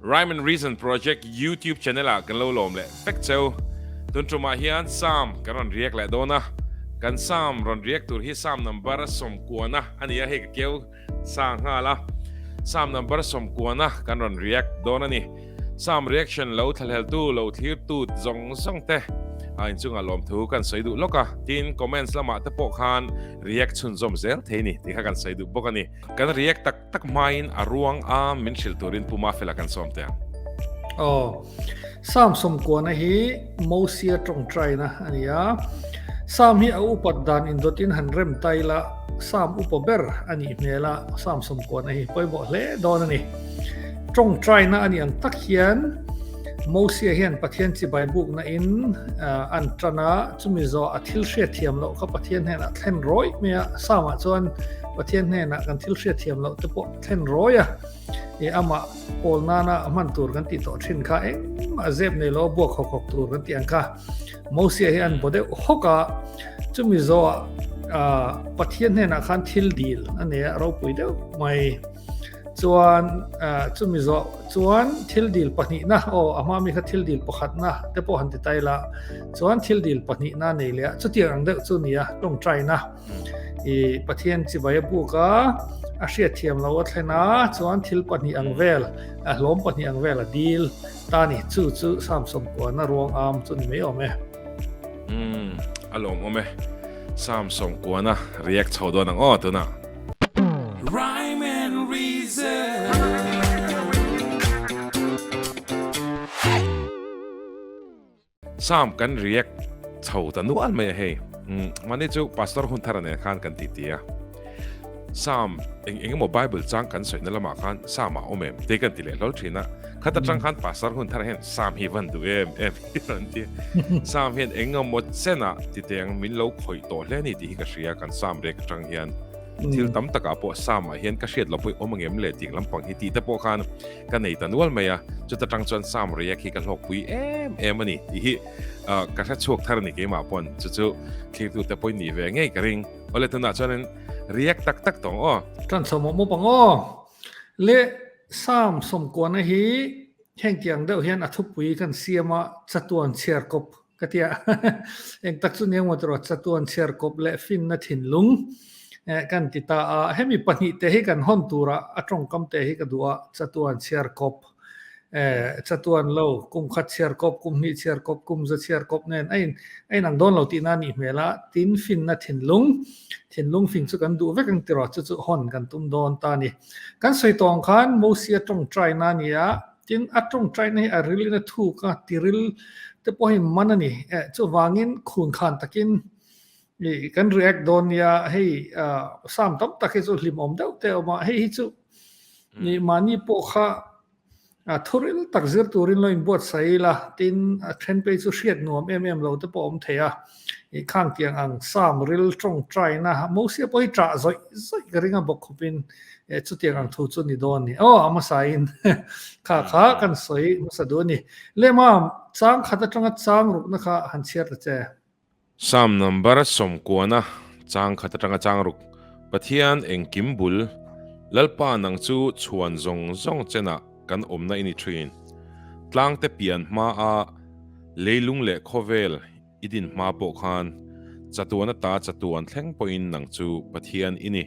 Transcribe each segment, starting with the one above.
Rhyme and Reason Project YouTube channel ah kan lo lawm leh fek cheu. Tun ṭum ah hian psalm kan rawn riak leh dawn a. Kan psalm rawn riak tur hi psalm number a sawmkuana a ni a, hei ka keu sa nghal a. Psalm number a sawmkuana kan rawn riak dawn a ni. Psalm reaction lo thlahlel tu, lo thlir tu zawng zawng te a inchungah lawm thu kan sawi duh lawk a. Tin comments lamah te pawh khan riak chhunzawm zel thei ni tih kha kan sawi duh bawk a ni. Kan riak tak. tak hmain a ruang a min hrilh turin puma fela kan sawm te ang. Oh, Sam sawmkuana hi Mosia tawngtaina a ni a. Sam hi a upat dan indotin han rem ta ila Sam upa ber a nih hmel a Sam sawmkuana hi pawimawh hle dawn a ni. Tawngtaina a ni ang tak hian Mosia hian Pathian chibai bukna in an tana chumi zawh a thil hriat thiam loh kha Pathian hian a thlen rawih mai a Sam ah chuan Pathian hnenah kan thil hriatthiam loh te pawh thlen rawi a, i amah kawl nana a hman tur kan tih tawh thin kha engmah zep nei lo buak hawk hawk tur kan tih ang kha. Mosia hi an bo deuh hawk a, chumi zawha Pathian hnenah khan thil dil a nei a, ropui deuh mai. Chuan chumi zawh chuan thil dil pahnihna, aw a hma mi kha thil dil pakhatna te pawh han ti tai la, chuan thil dil pahnihna nei leh a chutiang ang deuh chu nia tawngtaina. I Pathian chivaia buka a hriatthiam lo a thlen a chuan thil pahnih ang vel a hlawm pahnih ang vel a dil ta ni chu chu sam som kuana ruang am chu ni mai awm e um a lawm awm e sam som kuana react chho dawn ang aw tuna Rhyme and reason Sam kan react chho ta nual mai a hei mahni chu pastor hun thar a nen khan kan ti tia Sam eng eng emaw bible chang kan sawiina lamah khan Sam a awm em te kan ti leh hlawl thin a khat atang khan pastor hun thar hian Sam hi van duh em em hi kan ti Sam hian eng emaw chena ti teng min lo khawih tawh hle ni ti hi ka hria kan Sam react atang hian thil tam taka pawh Sam ah hian ka hriat lo pawh i awm a ngem le ding lampang hi tih te pawh khan ka nei ta nual mai a, chuta tang chuan Sam riak hi ka hlawkpui em em a ni tih hi ka hre chhuak thar a ni keimah pawn chu chu thliktute pawhin nih ve ngei ka ring. Awle tunah chuanin riak tak tak tawng aw. Kan chho mawp mawp ang aw. Le Sam sawmkuana hi hengkiang deuh hian a thupui kan siam a, chatuan chhiar kawp Ka ti a, engtak chu ni awmawt rawh chatuan chhiarkawp leh finna thinlung kan ti ta a, hemi pahnih te hi kan hawn tura a tawngkam te hi ka duh a, chatuan chhiarkawp, chatuan lo, kumkhat chhiarkawp, kumhnih chhiarkawp, kumza chhiarkawp nen a inang dawn lo tihna anih hmel a, tin finna thinlung, thinlung fin chu kan duh vek ang tirah chu chu hawn kan tum dawn ta a ni. Kan sawi tawng khan Mosia tawngtaina nia Tin, a tawngtaina hi a ril in a thuk a, tiril te pawh hi man a ni. Eh, chuvangin khun khan takin ih kan react dawn nia, hei sam tam tak hi chu hlim awm deuh te a awm a, hei hi chu ih mahni pawh kha thuril tak zir turin lo inbuatsaih ila, tin a then pei chu hriat nuam em em lo te pawh a awm thei a. I khang kiang ang Sam ril tawng taina Mosia pawi tah zawih zawih ka ring a bawk khup in eh chutiang ang thu chu ni dawn ni aw a hmasa in kha kha kan sawi hmasa duh a ni Lema chang khat atanga chang rukna kha han chhiar ta che. Sam number a sawm kuan a chang khat atanga chang ruk Pathian engkim bul Lalpa nang chu chhuan zawng zawng chenah kan awmna i ni thin Tlangte pian hma a leilung leh khawvel I din hma pawh khan chatuan ata chatuan thleng pawhin nang chu Pathian i ni.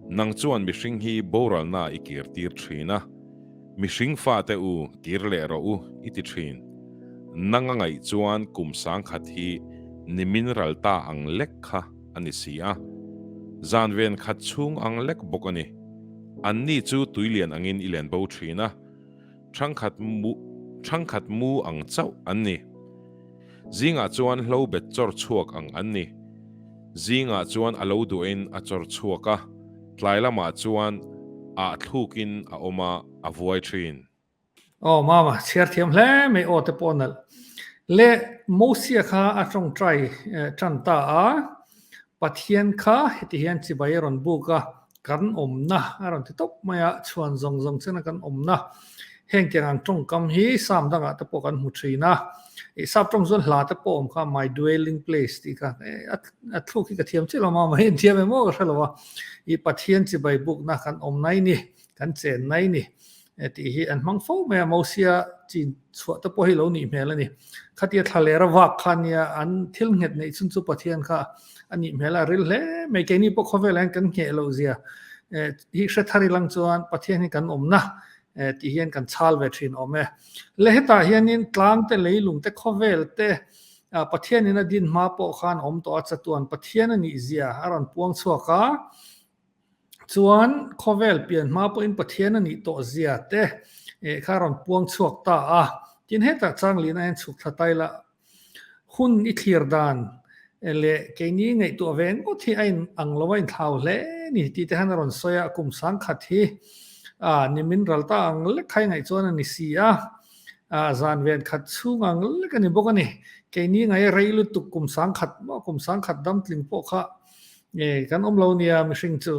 Nang chuan mihring hi boralnaah i kirtir thin a, Mihring fate u, kir leh rawh u i ti thin. Nang a ngaih chuan kum sangkhat hi nimin ral ta ang lek kha a ni si a, zanven khat chhung ang lek bawk a ni. Anni chu tui lian angin i len bo thin a. Thangkhat mu thangkhat mu ang chauh an ni. Zingah chuan hlo bet chawr chhuak ang an ni. Zingah chuan a lo duahin a chawr chhuak a, tlai lamah chuan ah thlukin a awm a, a vuai thin. Aw mama, chhiar thiam hle mai aw te pawh nalh le, Mosia kha a tawngtai tan ta a, Pathian kha hetihian chibai a rawn buk a, Kan awmna a rawn ti tawp mai a, chhuan zawng zawng chena kan awmna. Heng tiang ang tawngkam hi Psalm dangah te pawh kan hmu thin a. I Psalm tawng chuan hla te pawh awm kha, my dwelling place tih kha. A thluk hi ka thiam chiah lo a, mahni an thiam em aw ka hre lo a. I Pathian chibai bukna kan awm nai ni, kan chen nai ni. He tih hi an hmang fo mai a, Mosia chin chhuah te pawh hi lo nih hmel a ni. Khatia thla ler a vak kha nia an thil nghet neih chhun chu Pathian kha a nih hmel a, a ril hle mai. Keini pawh khawvel ah hian kan ngheh lo zia hi hre thar ilang chuan Pathian hi kan awmna tih hian kan chhal ve thin awm e. Le hetah hianin tlang te lei lung te khawvel te Pathianin a din hma pawh khan awm tawh a, chatuan Pathian a nih zia a rawn puang chhuak a. Chuan khawvel pian hma pawhin Pathian a nih tawh zia te eh kha rawn puang chhuak ta a. Tin hetah Changlina hian chhuk thla tai la. Hun i thlir dan leh keini ngaihtuah ve ngawt hi a in ang lo a, in thlau hle ni tih te khan a rawn sawi a, kum sangkhat hi a ni min ral ta ang lek khai ngaih chuan a ni si a, a zan ven khat chhung ang lek a ni bawk a ni. Keini ngai rei lutuk kum sangkhat maw kum sangkhat damtling pawh kha Nge kan awm lo nia mihring chu,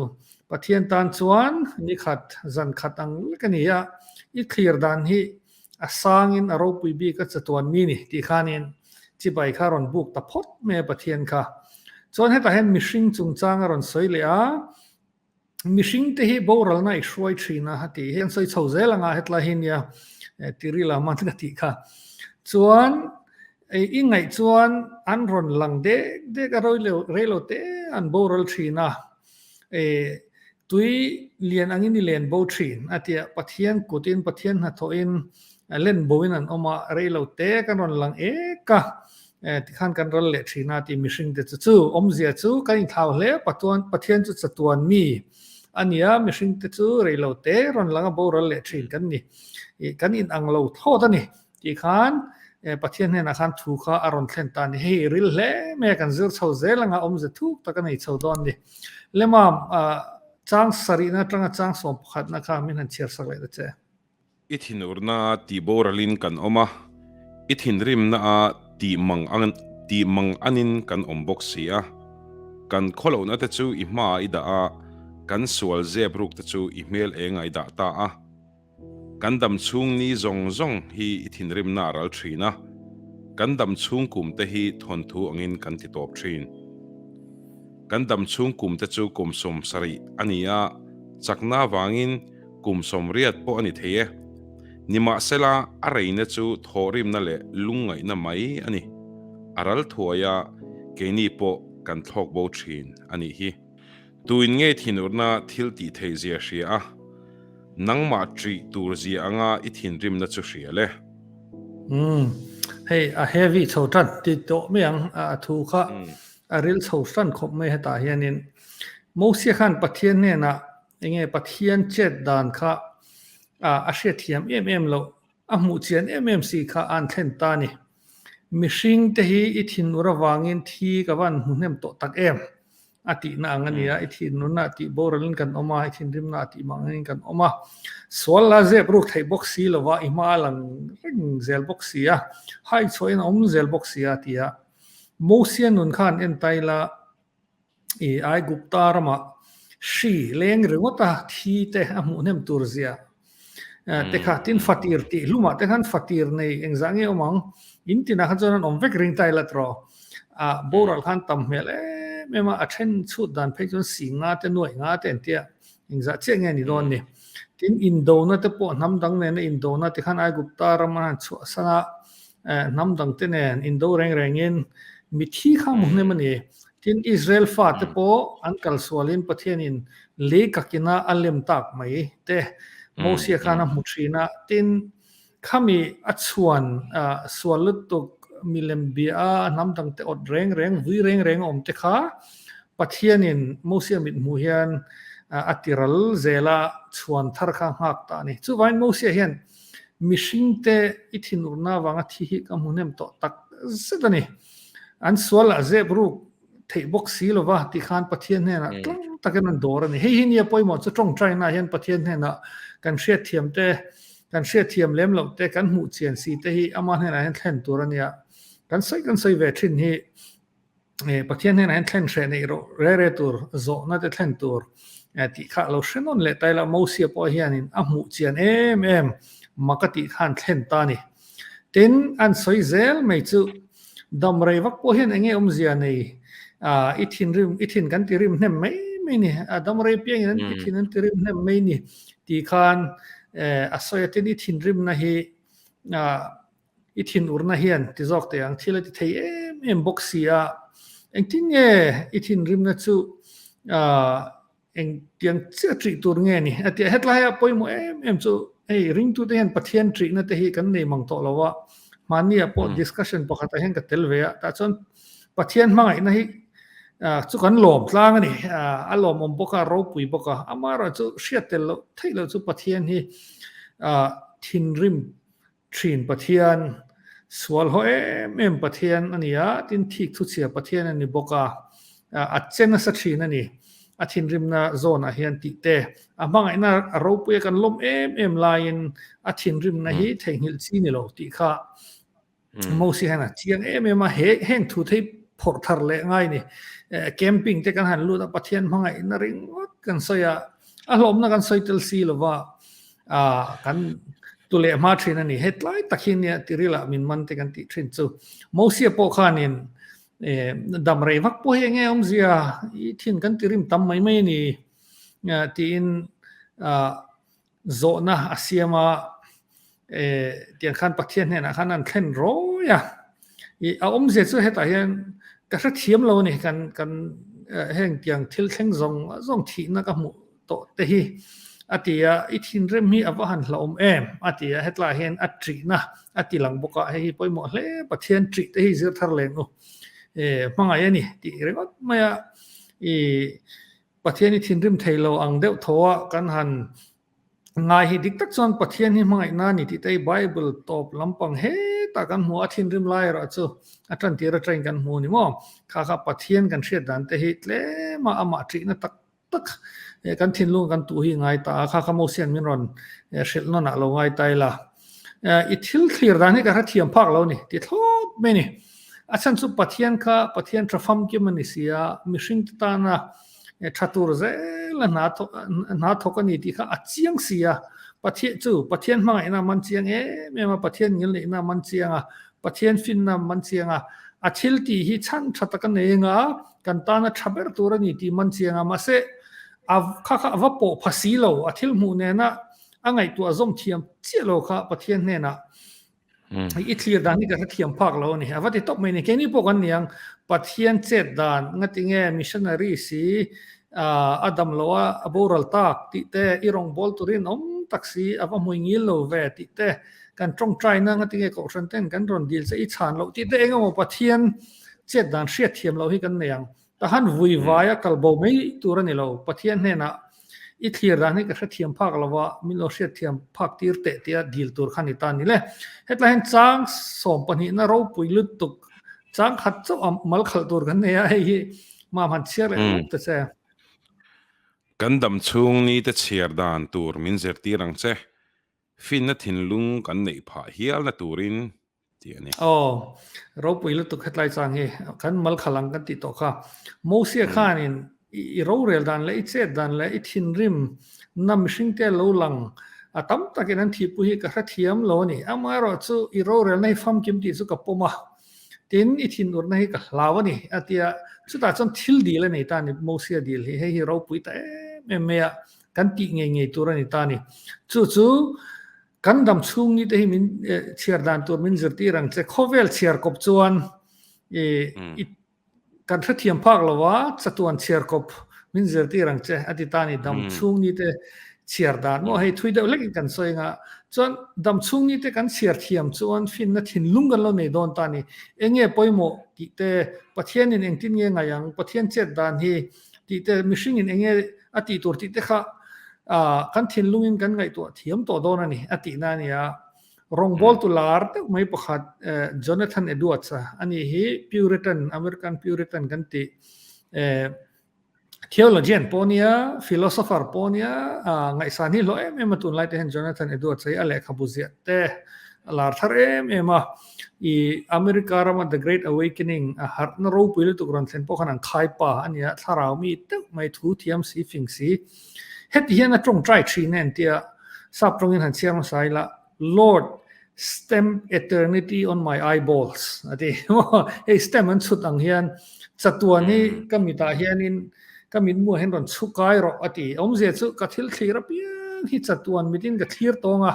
Pathian tan chuan nikhat zan khat ang lek a ni a, i thlir dan hi a sangin a ropui bik a chatuan mi ni tih khanin chibai kha rawn buk ta phawt mai a Pathian kha. Chuan hetah hian mihring chungchang a rawn sawi leh a, Mihring te hi boralna i hruai thin a, a tih hi an sawi chho zel ang a, hetlai hi nia Tiri Laman ka tih kha. Chuan i ngaih chuan an rawn lang dek dek a, reilo te an boral thin a, tui lian angin i len bo thin a tia Pathian kutin, Pathian hnathawhin len boin an awm a, reilo te kan rawn lang ek a, Tikhan kan ral leh thin a tih mihring te chu chu awmzia chu kan inthlau hle patuan Pathian chu chatuan mi a nia mihring te chu reilo te rawn langa boral leh thin kan ni ih kan in ang lo thlawt a ni tih khan Pathian hnenah khan thu kha a rawn thlen ta a ni hei ril hle mai a kan zir chho zel anga awmze thuk tak a nei chho dawn a ni lemam ah chang sarihna atanga chang sawm pakhatna kha min han chhiar sak leh ta che. I thinurna a tih boralin kan awm a, i thinrimna a tih mang ang tih mang angin kan awm bawk si a. Kan khaw lohna te chu i hmaah i dah a, kan sual zep ruk te chu i hmel eng a i dah ta a. Kan dam chhung ni zawng zawng hi i thinrimna a ral thin a, kan dam chhung kum te hi thawnthu angin kan ti tawp thin. Kan dam chhung kum te chu kawmsawm sarih a ni a, chakna avangin, kum sawmriat pawh a ni thei e. Nimahsela, a reina chu thawhrimna leh lungngaihna mai a ni. A ral thuai a, keini pawh kan thlawk bo thin a nih hi. Tuin nge thinurna thil tih theih zia hria a? Nangmah ṭih tur zia anga i thinrimna chu hria le? Umm, hei a heavy chho ṭan, ti tawh mai ang. A thu kha a rilchho ṭan khawp mai hetah hianin, Mosia khan Pathian hnenah Enge Pathian chet dan kha a hriatthiam em em loh, a hmuh chian em em si kha an thlen ta ni. Mihring te hi i thinur avangin thi ka van hmu hnem tawh tak em? A tihna ang a nia. I thinurna a tih boralin kan awm a, i thinrimna a tih mangin kan awm a. Sual la zep ruk theih bawk si lova i hma a lang reng zel bawk si a, haichhuahin a awm zel bawk si a, ti a Mosia nun kha an entai la. I Aigupta rama hri leng ringawta thi te a hmuh hnem tur zia te kha tin fatir tih hlumah te khan fatir nei engzah nge awm ang in tinah khan chuan an awm vek ring tai la tawh a boral khan tam hmel em em a a then chhut dan phei chuan sing nga te nuaih nga te an tia engzah chiah nge ni dawn ni tin indona te pawh hnam dang nena indona tikhan Aigupta rama chhuah sana Eh, hnam dang te nen Indo reng rengin mithi kha mu hnem ani. Tin Israel fa te pawh an kal sualin Pathianin lei kakina a lem tak mai te Mosia khan a hmu thin a. Tin khami a chhuan sual lutuk milem bia a hnam dang te awt reng reng, vui reng reng a awm te kha Pathianin Mosia mithmuh hian a ti ral zel a, chhuan thar kha a nghak ta ani. Chuvangin Mosia hian Mihring te i thinurna avanga thi hi ka hmu hnem tawh tak zet a ni. An sualah zep ruk theih bawk si lo va, ti khan Pathian hnenah tlang takin an dawr a ni. Hei hi nia pawimawh chu ṭawngṭainah hian Pathian hnenah kan hriatthiam te, kan hriatthiam lem loh te, kan hmuhchian si te hi Amah hnenah hian thlen tur a nia. Kan sawi kan sawi ve ṭhin hi Pathian hnenah hian thlen hreh neih rawh reh reh tur zawhna te thlen tur tih kha a lo hre nawn leh ta ila, Mosia pawh hianin a hmuh chian em em mak a tih khan thlen ta a ni. Tin, an sawi zel mai chu, damrei vak pawh hian eng nge awmzia nei i thin rim, i thin kan ti rim hnem mai mai ni, damrei piangin i thin an ti rim hnem mai ni tih khan a sawi a, tin i thinrimna hi I thin urna hian ti zawk teh ang, thil a ti thei em em bawk si a, engtin nge i thinrimna chu engtiang chiah ṭih tur nge ni? A tia hetlaia pawimawh em em chu hei ringtute hian Pathian ṭihna te hi kan nei mang tawh lo a, hmania pawh discussion pakhatah hian ka tel ve a, tah chuan Pathian hmangaihna hi chu kan lawm tlang a ni, a lawmawm bawk a, a ropui bawk a, amaherawhchu hriat tel loh theih loh chu Pathian hi thinrim Thin Pathian, sualhaw em em Pathian a ni a, tin thik thuchhia Pathian a ni bawk a, a che nasa thin a ni. A thinrimna zawnah hian tihte, a hmangaihna a ropui a kan lawm em em laiin a thinrimna hi theihnghilh chi ni lo tih kha Mose hian a chiang em em a, he heng thu thei phawrh thar leh ngai ni. Camping te kan han lut a, Pathian hmangaihna ringawt kan sawi a, a hlawmna kan sawi tel si lo va. Ahh kan tu leh hma thin a ni. Hetlai tak hi nia Tiril ah min man te kan tih thin chu. Mosia pawh khanin ehh dam rei vak pawh hi eng nge awmzia i thin kan ti rim tam mai mai a ni tiin ahh zawhna a siam a. Ehh tiang khan Pathian hnenah khan an thlen rawi a. I a awmzia chu hetah hian ka hrethiam lo a ni. Kan kan heng tiang thil thleng zawng zawng thihna ka hmuh tawh te hi a ti a, i thinrim hi a va han hlauhawm em? a ti a, hetlai hian a ṭihna a ti lang bawk a, hei hi pawimawh hle Pathian ṭih te hi zir thar len u e, hmangaih a ni tih ringawt mai a, i Pathian i thinrim thei lo ang deuh tho a kan han ngai hi dik tak chuan Pathian hi hmangaihna a ni tih te hi Bible tawp lampang hetah kan hmu a, a thinrim lai erawh chu a ṭan tir aṭangin kan hmu a ni maw? Kha kha Pathian kan hriat dan te hi tlem a amah ṭihna tak tak e kan thinlung kan tu hi ngai ta a kha ka mo sian min rawn e hril nawn ah lo ngai ta ila e i thil thlir dan hi ka hrethiam phak lo ni ti thlawp mai ni a chhan chu pathian kha pathian tha fam kim a ni sia mihring te tana e tha tur zel a hna hna thawk a ni tih kha a chiang sia pathian chu pathian hmangaihna man chiang em em a pathian ngil neihna man chiang a Pathian finnam man chiang a, a thil tih hi chhan tha taka nei anga kan tana tha ber tur a ni tih man chiang a. Mahse, a kha kha a va pawh pha si lo, a thil hmuh nena a ngaihtuah zawm thiam chiah lo kha Pathian hnenah i thlir dan hi ka hrethiam phak lo a ni. A va ti tawp mai nen, keini pawh kan niang, Pathian chet dan ngatinge missionaries i A dam lo a, a boral tak tih te, i rawngbâwl turin awm tak si, a va hmui ngil lo ve tih te, kan ṭawng ṭai nâng a ti nge kohhran ten kan rawn dil che i chhân loh tih te eng emaw Pathian chiat dân hriat thiam lo hi kan nei ang. Tahan vui vai a kal bo mai tur a ni lo, Pathian hnenah i thlir dân hi ka hre thiam phâk lo va, min lo hriat thiam phâk tîr teh tia dil tur kha ni ta ni le. Hetlaiin châng sâwm pahnihna ropui lutuk. chang khat chauh a mal khalh tur kan nei a hei hi ma man chhiar leh rawk te che kan dam chhung ni te chhiar dan tur min zirtir ang che finna thinlung kan neih phah hial na turin ti a ni. Aw ropui lutuk hetlai chang hi kan mal khal ang kan tih tawh kha Mosia khanin I rorel dan leh i chet dan leh i thinrim na mihring te lo lang a tam takin an thihpui hi ka hrethiam lo a ni. Amaherawh chu i rorelna hi famkim tih chu ka pawm a, tin i thinurna hi ka hlau a ni, a ti a. Chutah chuan thil dil a nei ta a ni, Mosia dil hi, hei hi ropui ta em em mai a, kan tih ngei ngei tur a ni ta a ni. Chu chu kan dam chhung ni te hi min chhiar dan tur min zir tirang che. Khawvel chhiar kawp chuan i Kan hrethiam phak lo a, chatuan chhiar kawp min zir tir ang che, a ti ta a ni. Dam chhung ni te chhiar dan maw hei, thui deuh hlekin kan sawi anga. Chuan dam chhung ni te kan chhiar thiam chuan finna thinlung kan lo nei dawn ta a ni. Eng nge pawimawh tih te, Pathianin engtin nge ngaih ang, Pathian chet dan hi tih te, mihringin eng nge a tih tur tih te kha kan thinlungin kan ngaihtuah thiam tawh dawn a ni, a tihna a ni a. Rawngbawl tu lar deuh mai pakhat Jonathan Edwards a, a nih hi Puritan, American Puritan kan tih theologian pawh a nia, philosopher pawh a nia, ngaihsan hi hlawh em em a tunlai te hian Jonathan Edwards a hi a lehkhabu ziah te a lar thar em em a, i America rama The Great Awakening a harhna ropui lutuk rawn thlen pawh khan an khai pa a nia, thlarau mi deuh mai thu thiam si fing si Heti hian a tawngtai thin e an ti a, sap tawngin han chhiar nasa ila, Lord, stamp eternity on my eyeballs a ti. Hei stamp an chhut ang hian chatuan hi ka mitah hianin ka mit hmuah hian rawn chhu kai rawh a ti. Awmzia chu ka thil thlir apiang hi chatuan mitin ka thlir tawng a,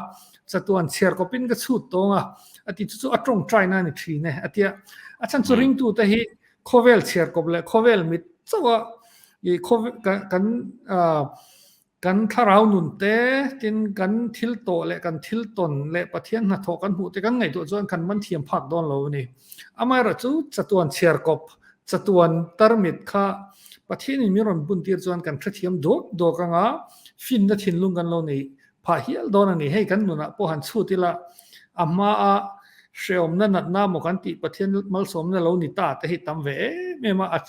chatuan chhiarkawpin ka chhut tawng a a ti. Chu chu a tawngtaina a ni thin e a ti a. A chhan chu ringtute hi khawvel chhiarkawp leh khawvel mit chauha I covid kan kan ah kan thlarau nun te tin kan thil tawh leh kan thil tawn leh Pathian hnathawh kan hmuh te kan ngaih duh chuan kan man thiam phak dawn lo a ni. Amaherawhchu chu chatuan chhiar kawp, chatuan tarmit kha Pathianin min rawn buntir chuan kan hrethiam duak duak anga finna thinlung kan lo nei. Phah hial dawn a ni, hei kan nunah pawh han chhut ila, a hmaa hrehawmna natna maw kan tih Pathian malsawmna lo ni ta te hi tam ve em em a,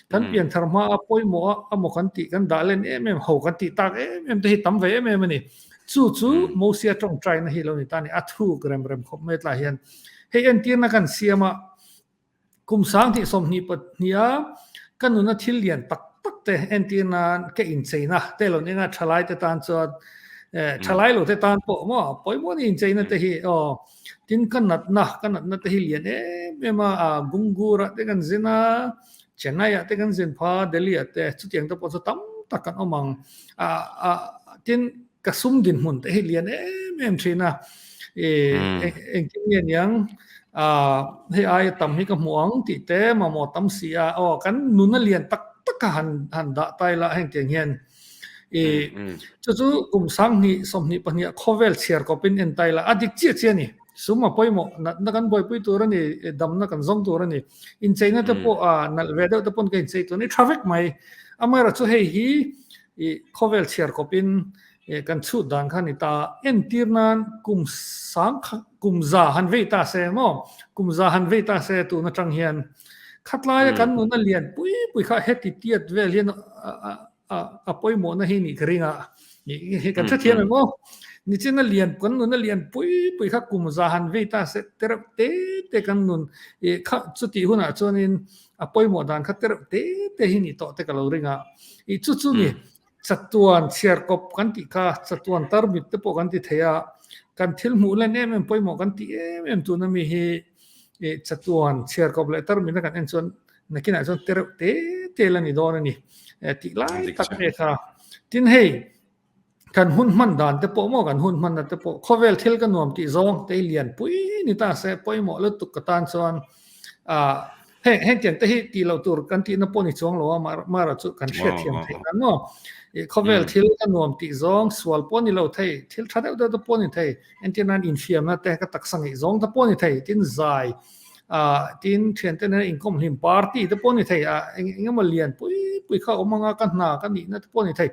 kan pian thar hmaa pawimawh a a maw kan tih kan dah len em em ho kan tih tak em em te hi tam ve em em a ni. Chu chu Mosia tawngtaina hi lo ni ta a ni, a thuk rem rem khawp mai tlaiah hian hei entirna kan siam a, Kum sang hnih sawmhnih pathnia ka nuna thil lian tak tak te entirna ka incheina te lo ninga thalai te tan chuan thalai lo te tan pawh maw pawimawni incheina te hi aw tin ka natna ka natna te hi lian em em a Gungur ah te kan zin a Chennai ah te kan zin pha Delhi ah te chutiang te pawh chu tam tak kan awm ang tin Ka sum dinhmun te hi lian em em thin a. E engkim nge niang a hei aia tam hi ka hmu ang tih te mamawh tam si a. Aw kan nuna lian tak taka han han dah tai la heng tiang hian e chu chu kum sang hni sawmhnih pahniha khawvel chhiar kawpin en tai la a dik chiah chiah a ni. Sum a pawimawh natna kan buaipui tur a ni e damna kan zawng tur a ni. Incheina te pawh a nalh ve deuh te pawn ka inchei tûr a ni a tha vek mai. Amaherawhchu hei hi I khawvel chhiar kawp in i kan chhut dan khan i ta a, entir nan kum sang kha kum za han vei ta se emaw? Kum za han vei ta se tun atang hian khatlaia kan nuna lian pui pui kha heti tiat vel hian a pawimawhna hi nih ka ring a, nih kan hre thiam emaw? Nichin a lian kan nuna lian pui pui kha kum za han vei ta se tereuh te te kan nun i kha chutih hunah chuan in a pawimawh dan kha tereuh te te hi ni tawh te ka lo ring a, i chu chu ni, chatuan chhiarkawp kan tih kha, chatuan tarmit te pawh kan ti thei a, kan thil hmuh len em em pawimawh kan tih em em tun ami hi i chatuan chhiarkawp leh tarmit a kan en chuan nakinah chuan tereuh te te la ni dawn a ni, tih lai tak nge kha, tin hei kan hun hman dan te pawh maw kan hun hman na te pawh khawvel thil ka nuam tih zawng te hi lian pui ni ta se pawimawh lutuk ka tan chuan a heng heng tiang te hi ti lo tur kan ti na pawh ni chuang lo a mar mar chu kan hriat thiam thei dan maw i khawvel thil ka nuam tih zawng sual pawh ni lo thei thil tha deuh deuh te pawh ni thei engtinan infiamna te ka taksa ngei zawng te pawh ni thei tin zai tin thiante nena inkawm hlim party te pawh a ni thei a, eng eng emaw lian pui pui kha awm anga ka hna ka nihna te pawh a ni thei.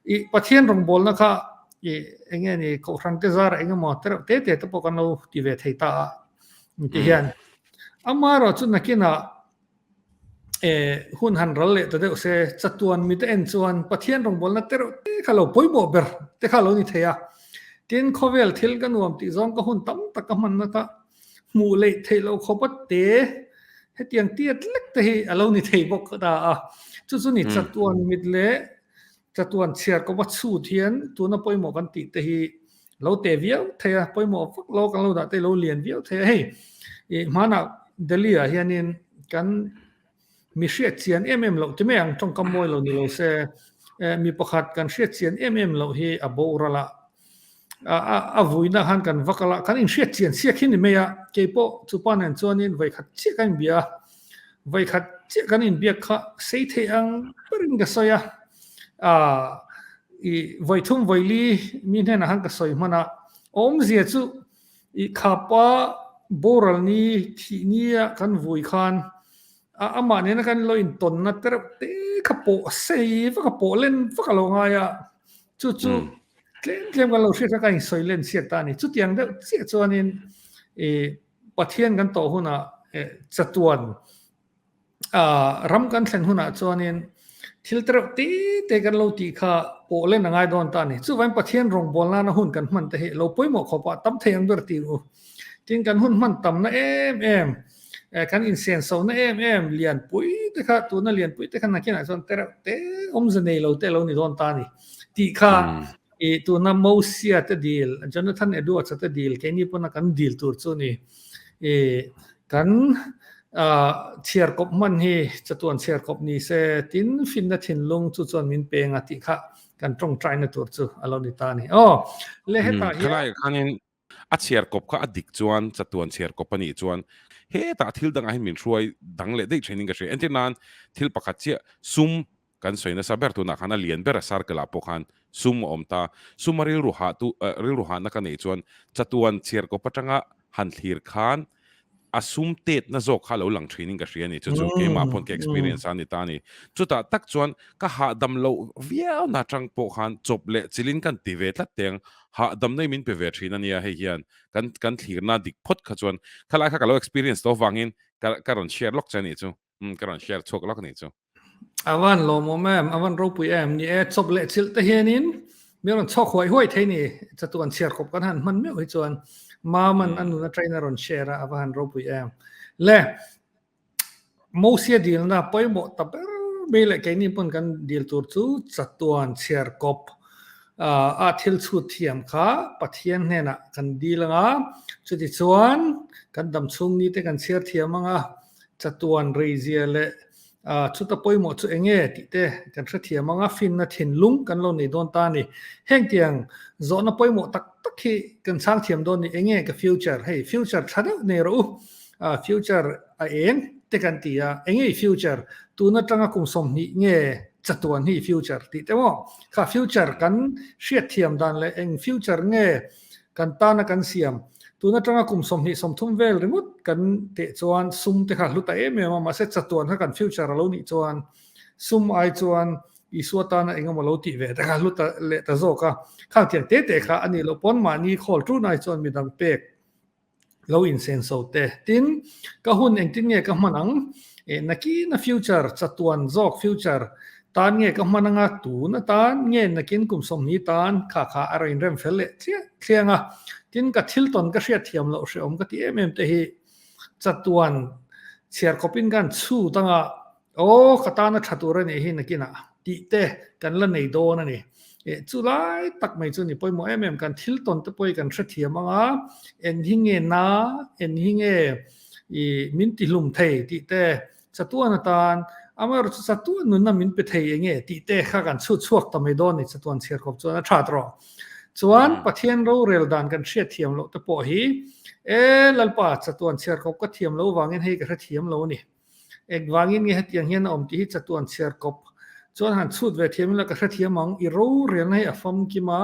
I Pathian rawngbawlna kha i eng nge ni Kohhrangte zara eng emaw tereuh te te te pawh kan lo ti ve thei ta a. Intihian amaherawhchu nakinah Eh, hun han ral leh ta deuh se, chatuan mite en chuan Pathian rawngbawlna te reuh te kha lo pawimawh ber te kha lo ni thei a. Tin, khawvel thil ka nuam tih zawng ka hun tam tak ka hman na kha hmuh leih theih lo khawpa te hetiang tiat lek te hi a lo ni thei bawk ta a. Chu chu ni chatuan mit leh Chatuan Chhiarkawpa chhut hian tuna pawimawh kan tih te hi lo teh viau thei a, pawimawh vak lo kan lo dah te hi lo lian viau thei a. Hei i hmanah Delhi ah hianin kan mi hriat chian em em loh ti mai ang tawngkam mawi lo ni lo se, mi pakhat kan hriat chian em em loh hi a boral a, A vuina khan kan va kal a, kan inhriat chian chiah khin ni mai a, kei pawh chu pa nen chuanin vawikhat chiah ka inbia a, vawikhat chiah kan inbiak kha sei thei ang berin ka sawi a, i vawithum vawili mi hnenah khan ka sawi hman a, awmzia chu i khapa boral ni thih nia kan vui khan A amah nena kan lo in tawnna tereuh te kha pawh a sei vak a pawh len vak a lo ngai a, chu chu tlem tlem kan lo hriat kha kan insawi len chhiat ta a ni. Chutiang deuh chiah chuanin Pathian kan tawh hunah chatuan ram kan thlen hunah chuanin thil tereuh te te kan lo tih kha pawh len a ngai dawn ta a ni. Chuvangin Pathian rawngbâwl nana hun kan hman te hi lo pawimawh khawpa tam thei ang ber ti u. Tin kan hun hman tamna em em, eh, kan insen sona em em lian pui te kha tuna lian pui te kha nakin a chon tereuh te om za nei lo te lo ni don ta ni ti kha hmm. i tuna mosia te deal jonathan edwards te deal ke ni pona kan deal tur chu ni e kan a thiar kop man hi chatuan thiar kop ni se tin fin na thin lung chu chon min peng a ti kha kan tong trai na tur chu alo ni ta ni o le heta hi khanin A chhiarkawp kha a dik chuan chatuan chhiarkawp a nih chuan hetah thil dangah hian min hruai dang leh daih thin in ka hria. Entir nan thil pakhat chiah sum kan sawi nasa ber tunah khan a lian ber a circle ah pawh khan sum a awm ta. Suma rilru hahtu rilru hahna ka neih chuan chatuan chhiarkawp atanga han thlir khan A sum tetna zawk kha a lo lang thin in ka hria a ni. Chu chu keimah pawn ka experience a ni ta a ni. Chutah tak chuan ka hahdam loh viauna atang pawh khan chawp leh chilin ka han ti ve tlat teh ang. Hahdamna i min pe ve thin a nia hei hian. Kan kan thlirna dik phawt kha chuan khalai kha ka lo experience loh vangin ka ka rawn share lawk che a nih chu. Umm ka rawn share chhuak lak a nih chu. Avan lawmawm em, avan ropui em ni e, chawp leh chilh te hianin min rawn chhawk huai huai thei ni, chatu an chhiar khawp kan han hman meuh hi chuan mam an an nuna train a rawn share a, ava han ropui em le Mosia dilna pawimawh ta ber mai leh keini pawn kan dil tur chu chatuan chhiarkawp a thil chhut thiam kha Pathian hnenah kan dil anga, chutichuan kan damchhungni te kan chhiar thiam anga. Chatuan reizia leh chuta pawimawh chu eng nge tih te kan hrethiam ang a, fimna thinlung kan lo nei dawn ta a ni. Heng tiang zawhna pawimawh tak tak hi kan chhang thiam dawn a ni, eng nge ka future hei, future tha deuh nei rawh u, future a eng te kan ti a, eng nge i future, tun atanga kum sawmhnih nge chatuan hi i future tih te maw, kha future kan hriat thiam dan leh eng future nge. Kan tana kan siam. Tun atanga kum sawmhnih sawmthum vel ringawt kan teh chuan sum te kha hlu ta em em a, mahse chatuan kha kan future a lo nih chuan sum ai chuan Isua tana eng emaw lo tih ve te kha hlu ta leh ta zawk a. Khangthiang te te kha a ni loh pawn mahni khawl ṭun ai chuan midang pek lo in sen so te tin ka hun engtin nge ka hman ang eh nakin a future chatuan zawk future tan nge ka hman anga tun atan nge nakin kum sawmhni tan kha kha a rain rem fel leh thliah thliang a tin ka thil tawn ka hriat thiam loh hreawm ka ti em em te hi chatuan chhiar khawpin khan chhut anga Aw ka tana tha tur a nih hi nakinah tih te kan la nei dawn a ni. Eh chu lai tak mai chu ni pawimawh em em kan thil tawn te pawh i kan hrethiam anga eng hi nge na eng hi nge i min tihlum thei tih te chatuan atan amaherawh chu chatuan nunna min pe thei enge tih te kha kan chhut chhuak ta mai dawn a ni chatuan chhiarkawp chuan a that rawh. Chuan Pathian rorel dan kan hriatthiam loh te pawh hi e Lalpa chatuan chhiarkawp ka thiam lo vangin hei ka hrethiam lo a ni. Eng vangin nge hetiang hian a awm tih hi chatu an chhiar kawp. Chuan han chhut ve thiam ila ka hrethiam ang, i rorelna hi a famkim a,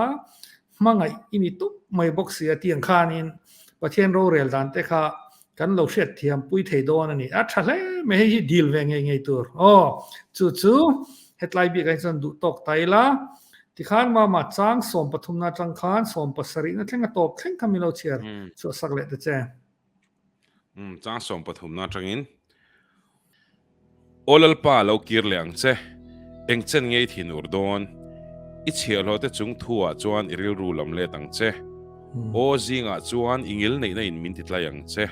hmangaih i ni tawp mai bawk si a tiang khanin Pathian rorel dan te kha kan lo hriat thiam pui thei dawn a ni. A tha hle mai hei hi dil ve ngei ngei tur. Aw, chu chu hetlai bik ahi chuan duh tawk ta ila, tikhan mama chang sawm pathumna atang khan sawm pasarihna thlenga tawp thleng kha min lo chhiar chhuahsak leh ta che. Um chang sawm pathumna atangin aw lalpa lo kir leh ang che, engchen ngei thin ur dawn, i chhiahhlawh te chung thu ah chuan i rilru lam let ang che, aw zingah chuan i ngil neihna in min titlai ang che,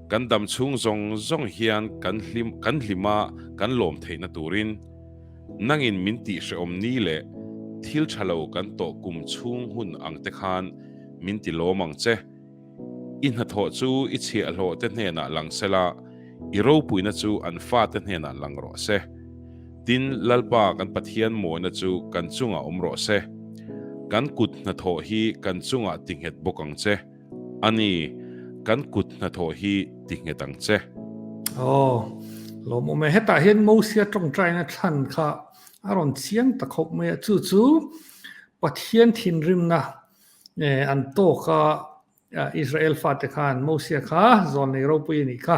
kan dam chhung zawng zawng hian kan hlim kan hlima kan lawm theihna turin nangin min tih hrehawm ni leh thil thalo kan tawh kum chhung hun ang te khan min ti lawm ang che. I hnathawh chu i chhiahhlawhte hnenah lang se la, i ropuina chu an fate hnenah lang rawh se. Tin, Lalpa kan Pathian mawina chu kan chungah awm rawh se. Kan kut hnathawh hi kan chungah tinghet bawk ang che. Ani, kan kut hnathawh hi tinghet ang che. Aw, lawmawh mai. Hetah hian Mosia tawngtaina thlan kha a rawn chiang ta khawp mai a, chu chu Pathian thinrimna An tawk a, Israel fate khan, Mosia kha zawn nei ropui a nih kha,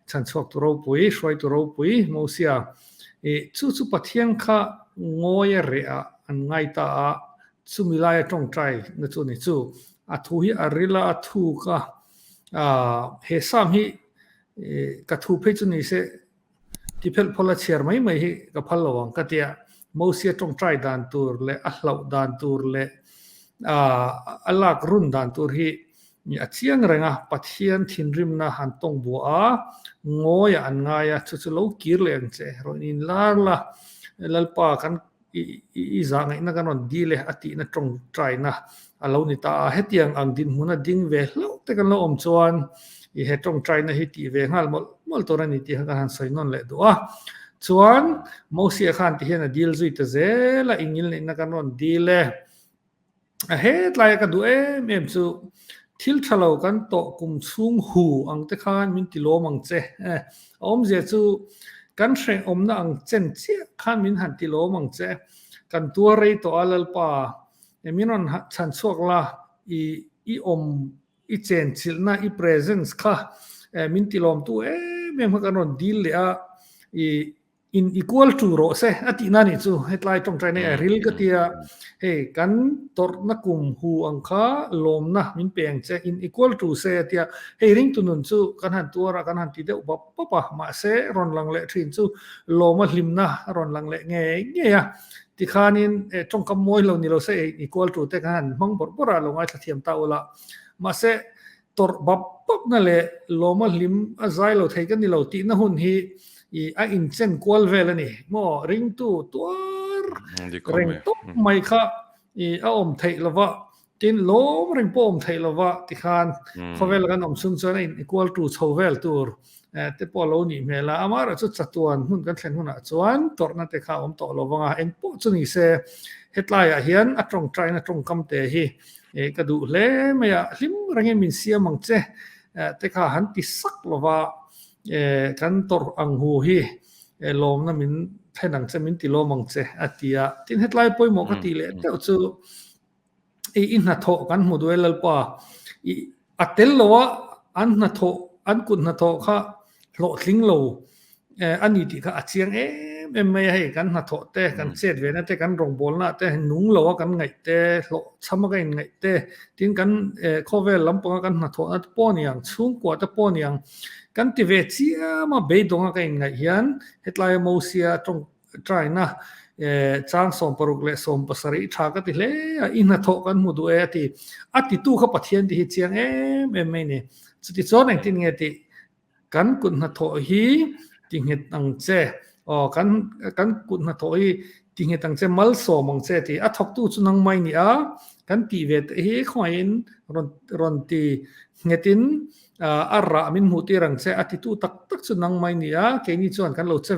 chhan chhuak tu ropui, hruai tu ropui, Mosia i chu chu Pathian kha ngawi a reh a, an ngai ta a, chu milai a tawngtai na chu ni chu, a thu hi a ril a, a thuk a, he sam hi ka thu phei chu ni se, Tiphelhpawla chhiar mai mai hi ka phal lo ang ka tia Mosia tawngtai dan tur leh a hlauh dan tur leh a lak run dan tur hi a chiang reng a, Pathian thinrimna han tawng bua a, ngawiah an ngai a, chu chu lo kir leh ang che, rawn inlar la Lalpa kan i i zah ngaihna kan rawn dil e a tihna tawng taina a lo ni ta a, hetiang ang dinhmun a ding ve hlauh te kan lo awm chuan i he tawng taina hi tih ve nghal mawlh mawlh tur a ni tih kha kan han sawi nawn leh duh a. Chuan Mosia khan tihian a dil zui ta zel a, i ngil neihna kan rawn dil e. A hetlai ka duh em em chu thil tha lo kan tawh kum chhung hu ang te khan min ti lawm ang che a awm zia chu kan hreh awmna ang chen chiah khan min han ti lawm ang che kan tuar rei tawh a Lalpa e min rawn chhan chhuak la i i awm i chen chilhna i presence kha e min ti lawm tu em em kha kan rawn dil leh a i In i kual tu rawh se a tihna nih chu hetlai tawngtai nei a ril ka tia hei kan tawrhna kum hu ang kha lawmna min pe ang che in i kual tu se a tia hei ringtu nun chu kan han tuar a kan han ti deuh bap bap a mahse rawn lang leh thin chu lawm a hlimna a rawn lang leh ngei ngei a tikhanin eh tawngkam mawi lo ni lo se eh in i kual tute kha han hmang bawrh bawrh a lo ngaithla thiam ta ula mahse Tawrh bap bapna leh lawma hlim a zai lo thei ka ni lo tihna hun hi i a inchen kual vel a ni maw? Ringtu tuar reng tawp mai kha i a awm theih lo va, tin lawm reng pawh a awm theih lo va tikhan khawvel a kan awm chung chuan a in kual tu chho vel tur te pawh lo nih hmel a, amah erawh chu chatuan hmun kan thlen hunah chuan tawrhna te kha a awm tawh lo vang a, eng pawh chu ni se hetlaiah hian a tawngtaina tawngkam te hi ka duh hle mai a, hlim rengin min siam ang che te kha han ti sak lo va, kan tawrh ang hu hi lawmna min thlen ang che, min ti lawm ang che a ti a, tin hetlai pawimawh ka tih leh teuh chu. i i hnathawh kan hmu duai lalpa i a tel lo a an hnathawh an kut hnathawh kha hlawhtling lo a ni tih kha a chiang em em mai a hei kan hnathawh te kan chet ve na te kan rawgbawlna ah te nung lo a kan ngaih te hlawh chham a ka inngaih te tin kan khawvel lam panga kan hnathawh na te pawh a ni ang chhungkua te pawh a ni ang kan ti ve chiam a beidawng a ka inngaih hian hetlai a Mosia tawng Try na, eh, chang sawm paruk leh sawm pasarih tha ka ti hle a, i hna thawh kan hmu duh e a ti. A titu kha Pathian tih hi chiang em em mai ni. Chutichuan engtin nge tih? Kan kut hna thawh hi ti nghet ang che, aw, kan, kan kut hna thawh hi ti nghet ang che, mal sawm ang che ti. A thawktu chu nangmah i ni a, kan tih ve teh hi khawngaihin rawn, rawn ti. Nghetin a rah min hmuh tir ang che a titu tak tak chu nang mai nia, keini chuan kan lo che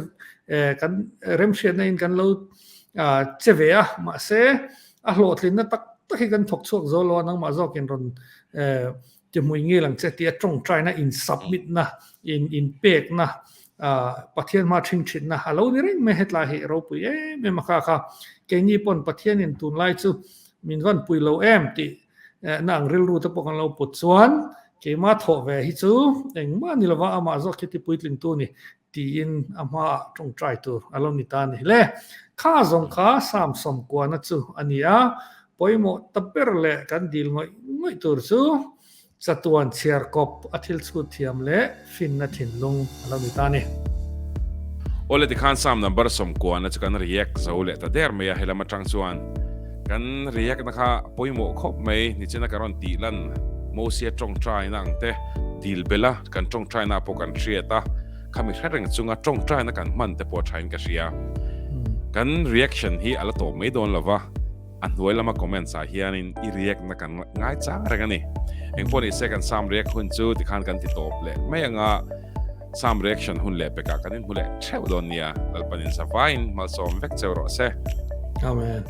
kan remhriatna in kan lo che ve a, mahse a hlawhtlinna tak tak hi kan thawk chhuak zo lo a nangmah zawk in rawn ti hmui ngil ang che tia tawngtaina in submit na in in pek na Pathian hma thing thin na a lo ni reng mai hetlai hi ropui em em a kha kha keini pawn Pathian in tunlai chu min van pui lo em tih na ang rilru te pawh kan lo put chuan keima thawh ve hi chu engmah ni lova amah zawk hi tipuitling tu ni tiin a hmaah tawngtai tur a lo ni ta ni hle. Kha zawng kha sam sawm kuahna chu a ni a, pawimawh ta ber leh kan dil ngawih ngawih tur chu chatuan chhiar kawp a thil chhut thiam leh, Finna thinlung a lo ni ta ni. Aw le tikhan sam number sawmkuana chu kan react zo leh ta der mai a helam atang chuan kan react na kha pawimawh khawp mai nichina ka rawn tih lan Mosia tawngtaina ang te dil bela kan tawngtaina pawh kan hriat a khami hre reng chunga tawngtaina kan hman te pawh thain ka hria kan reaction hi a la tawp mai dawn lova. A hnuai lama comments ah hianin i react na kan ngai chang reng a ni. Eng pawh nise kan sam react hun chu tikhan kan ti tawp leh mai ang a, sam reaction hun leh pekah kan inhmu leh theuh dawn nia, Lalpanin zavaiin hmalsawm vek che rawh se. Amen.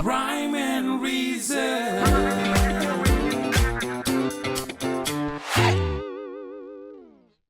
Rhyme and reason.